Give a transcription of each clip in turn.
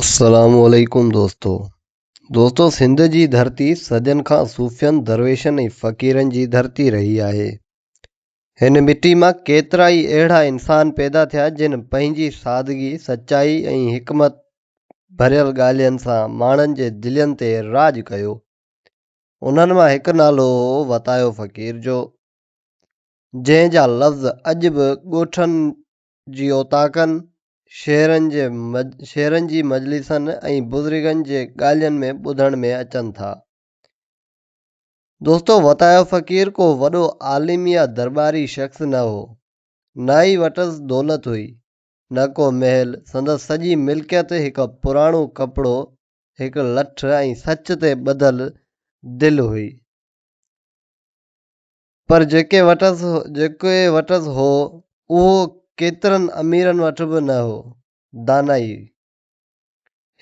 السلام عليڪم دوستو دوستو سنڌ جي ڌرتي صدين کان صوفين درويشن ۽ فقيرن جي ڌرتي رهي آهي هن مٽي مان ڪيترا ئي اهڙا انسان پيدا ٿيا جن پنهنجي سادگي سچائي ۽ حڪمت ڀريل ڳالهين سان ماڻهن جي دلين تي راڄ ڪيو انهن مان هڪ نالو هو وتايو فقير جو جنهن جا لفظ اڄ به ڳوٺن جي اوطاقن، شعرن جي شعرن جي مجلسن ۽ بزرگن جي ڳالهين ۾ ٻڌڻ ۾ اچن ٿا. دوستو وتايو فقير ڪو وڏو عالم يا درٻاري شخص نه هو، نه ئي وٽس دولت هئي، نه ڪو محل، سندس سڄي ملڪيت هڪ پراڻو ڪپڙو، هڪ لٺ ۽ سچ تي ٻڌل دل هئي. پر جيڪي وٽس جيڪي وٽس هو، اهو ڪيترن اميرن وٽ به نه هو. دانائي.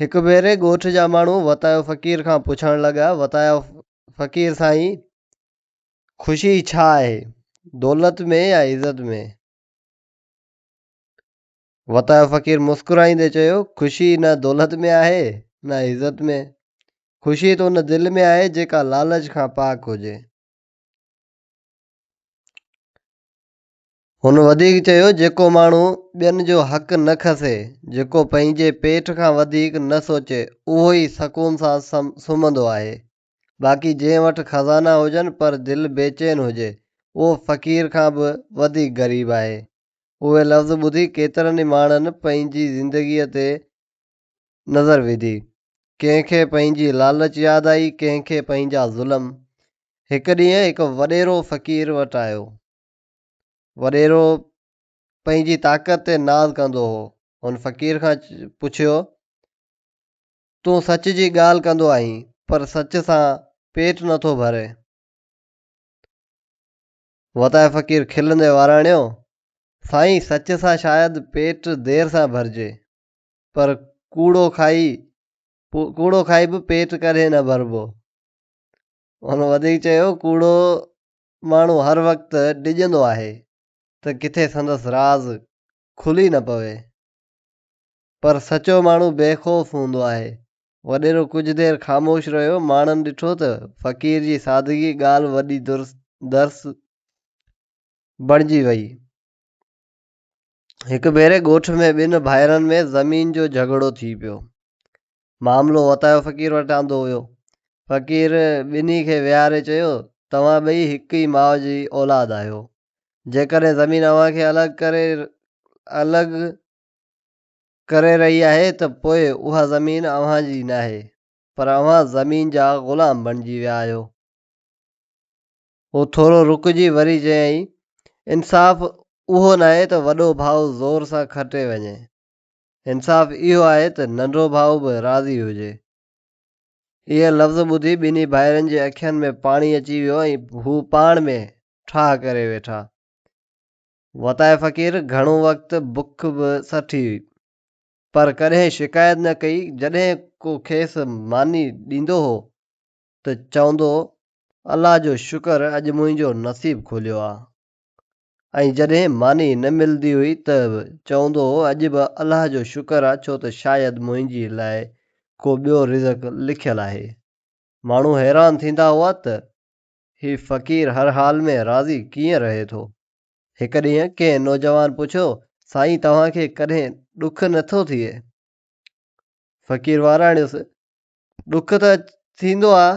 هڪ ڀيري ڳوٺ جا ماڻهو وتايو فقير کان پڇڻ لڳا، وتايو فقير سائين! خوشي ڇا آهي، دولت ۾ يا عزت ۾؟ وتايو فقير مسڪرائيندي چيو، خوشي نه دولت ۾ آهي، نه عزت ۾. خوشي ته ان دل ۾ آهي، جيڪا لالچ کان پاڪ هجي. هن وڌيڪ چيو جيڪو ماڻهو ٻين جو حق نه کسي، جيڪو پنهنجي پيٽ کان وڌيڪ نه سوچي اهو ئي سڪون سان سمهندو آهي. باقي جنهن وٽ خزانا هجن پر دل بيچين هجي اهو فقير کان به وڌيڪ غريب آهي. اهي لفظ ٻڌي ڪيترن ئي ماڻهن پنهنجي زندگيء تي نظر وڌي. ڪنهن کي پنهنجي لالچ ياد آئي، ڪنهن کي پنهنجا ظلم. هڪ ڏينهن هڪ وڏيرو فقير وٽ آيو. وڏيرو پنهنجي طاقت تي ناز ڪندو هو. هن فقير کان پڇيو، تون سچ جي ڳالهه ڪندو آهين، پر سچ سان پيٽ نه ٿو ڀرين. وتايو فقير کلندي وراڻيو، سائين سچ سان شايد پيٽ دير سان ڀرجي، پر ڪوڙو کائي ڪوڙو کائي به پيٽ ڪڏهن نه ڀربو. هن وڌيڪ چيو، ڪوڙو ماڻهو هر وقت ڊڄندو آهي ته ڪٿي سندس راز کلي نه پوي. پر سچو ماڻهو بي خوف هوندو آهي. وڏيرو ڪجهه دير خاموش رهيو، ماڻهن ڏٺو ته فقير جي سادگي ڳالهه وڏي درس بڻجي وئي. هڪ ڀيري ڳوٺ ۾ ٻن ڀائرن ۾ زمين جو جهڳڙو ٿي پيو. معاملو وتايو فقير وٽ آندو ويو. فقير ٻنهي کي ويهاري چيو، توهان ٻئي هڪ ئي ماء جي اولاد آهيو. جيڪڏهن زمين اوهان کي الڳ ڪري الڳ ڪري رهي آهي ته پوء اها زمين اوهان جي ناهي پر اوهان زمين جا غلام بڻجي ويا آهيو. هو ٿورو رڪجي وري چيائين، انصاف اهو ناهي ته وڏو ڀاء زور سان کٽي وڃي. انصاف اهو آهي ته ننڍو ڀاء به راضي هجي. اهي لفظ ٻڌي ٻنهي ڀائرن جي اکين ۾ پاڻي اچي ويو ۽ هو پاڻ ۾ ٺاهه ڪري ويٺا. وتاء فقير گهڻو وقت بک به سٺي هئي، پر ڪڏهن شڪايت نه ڪئي، جڏهن ڪو کيس ماني ڏيندو هو ته چوندو الله جو شڪر اڄ منهنجو نصيب کوليو آ ۽ جڏهن ماني نه ملندي هئي ته به چوندو هو اڄ به الله جو شڪر آ ڇو ته شايد منهنجي لاء ڪو ٻيو رزق لکيل آهي. ماڻهو حيران ٿيندا هئا ته هي فقير هر حال ۾ راضي ڪيئن رهي ٿو. هڪ ڏينهن ڪنهن نوجوان پڇيو سائين توهان کي ڪڏهن ڏک نه ٿو ٿئي؟ فقير واراڻيس ڏک ته ٿيندو آ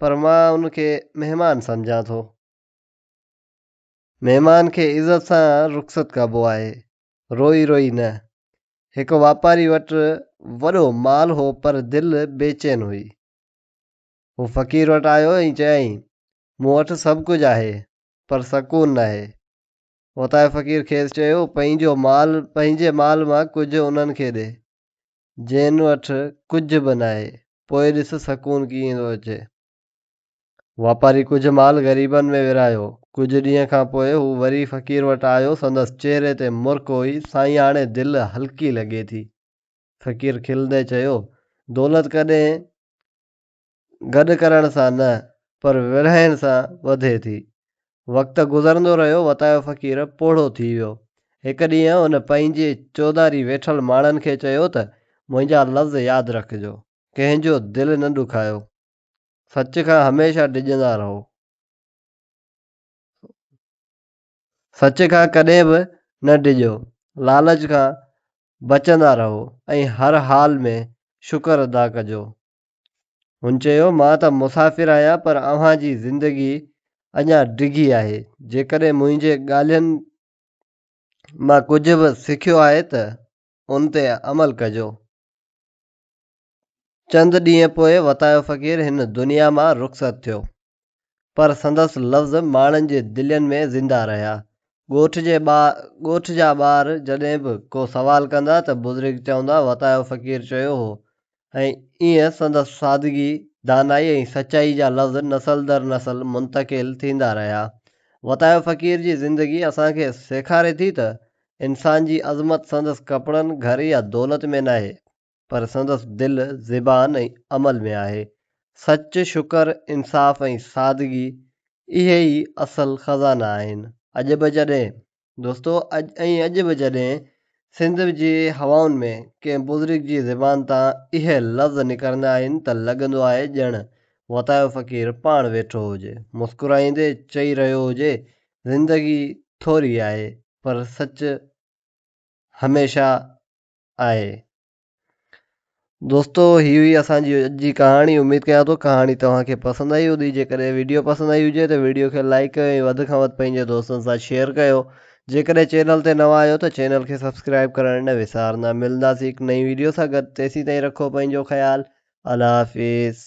پر مان ان کي مهمان سمجهان ٿو. مهمان کي عزت سان رخصت ڪبو آهي، روئي روئي نه. هڪ واپاري وٽ وڏو مال هو پر دل بيچين هئي. هو فقير وٽ آيو ۽ چيائين، مون وٽ سڀ ڪجهه آهي پر سڪون ناهي. اوتانء فقير کيس چيو، پنهنجو مال پنهنجي مال مان ڪجهه انهن کي ڏي. جنھن وٽ ڪجهه به ناهي، پوء ڏس سڪون ڪيئن ٿو اچي. واپاري ڪجهه مال غريبن ۾ ورهايو. ڪجهه ڏينهن کان پوء هو وري فقير وٽ آيو، سندس چهري تي مرڪ هئي، سائين هاڻي دل هلڪي لڳي ٿي. فقير کلندي چيو، دولت ڪڏهن گڏ ڪرڻ سان نه پر ورهائڻ سان وڌي ٿي. وقت گذرندو رهيو وتايو فقير پوڙهو ٿي ويو. هڪ ڏينهن ان پنهنجي چوڌاري ويٺل ماڻهن کي چيو ته منهنجا لفظ ياد رکجو. ڪنهن جو دل نه ڏکايو. سچ کان هميشه ڊڄندا رهو. سچ کان ڪڏهن به نه ڊڄو. لالچ کان بچندا رهو ۽ هر حال ۾ شڪر ادا ڪجو. هن چيو، مان ته مسافر آهيان پر اوهان جي زندگي اڃا ڊگهي آهي، جيڪڏهن منهنجي ڳالهين مان ڪجهه به سکيو آهي ته ان تي عمل ڪجو. چند ڏينهن پوء وتايو فقير هن دنيا مان رخصت ٿيو. پر سندس لفظ ماڻهن جي دلين ۾ زنده رهيا. ڳوٺ جي ٻا ڳوٺ جا ٻار جڏهن به ڪو سوال ڪندا ته بزرگ چوندا وتايو فقير چيو هو ۽ ايئن سندس سادگي، دانائي ۽ سچائي جا لفظ نسل در نسل منتقل ٿيندا رهيا. وتايو فقير جي زندگي اسان کي سيکاري ٿي ته انسان جي عظمت سندس ڪپڙن، گهر يا دولت ۾ ناهي. پر سندس دل، زبان ۽ عمل ۾ آهي. سچ، شڪر، انصاف ۽ سادگي اهي ئي اصل خزانا آهن. اڄ به جڏهن دوستو اڄ ۽ اڄ به جڏهن سنڌ جي هوائن ۾ ڪنهن بزرگ جي زبان تان اهي لفظ نڪرندا آهن ته لڳندو آهي ڄڻ وتايو فقير پاڻ ويٺو هجي مسڪرائيندي چئي رهيو هجي زندگي ٿوري آهي پر سچ هميشه آهي. دوستو هي هئي اسان جي اڄ جي ڪهاڻي اميد ڪيان ٿو ڪهاڻي توهان کي پسند آئي هوندي جيڪڏهن ويڊيو پسند آئي هجي ته ويڊيو کي لائڪ ڪيو ۽ وڌ کان وڌ پنهنجي دوستن سان شيئر ڪيو جيڪڏهن چينل تي نوان آهيو ته چينل کي سبسڪرائب ڪرڻ نه وسارندا ملنداسين هڪ نئين ويڊيو سان گڏ تيسين تائين رکو پنهنجو خيال الله حافظ.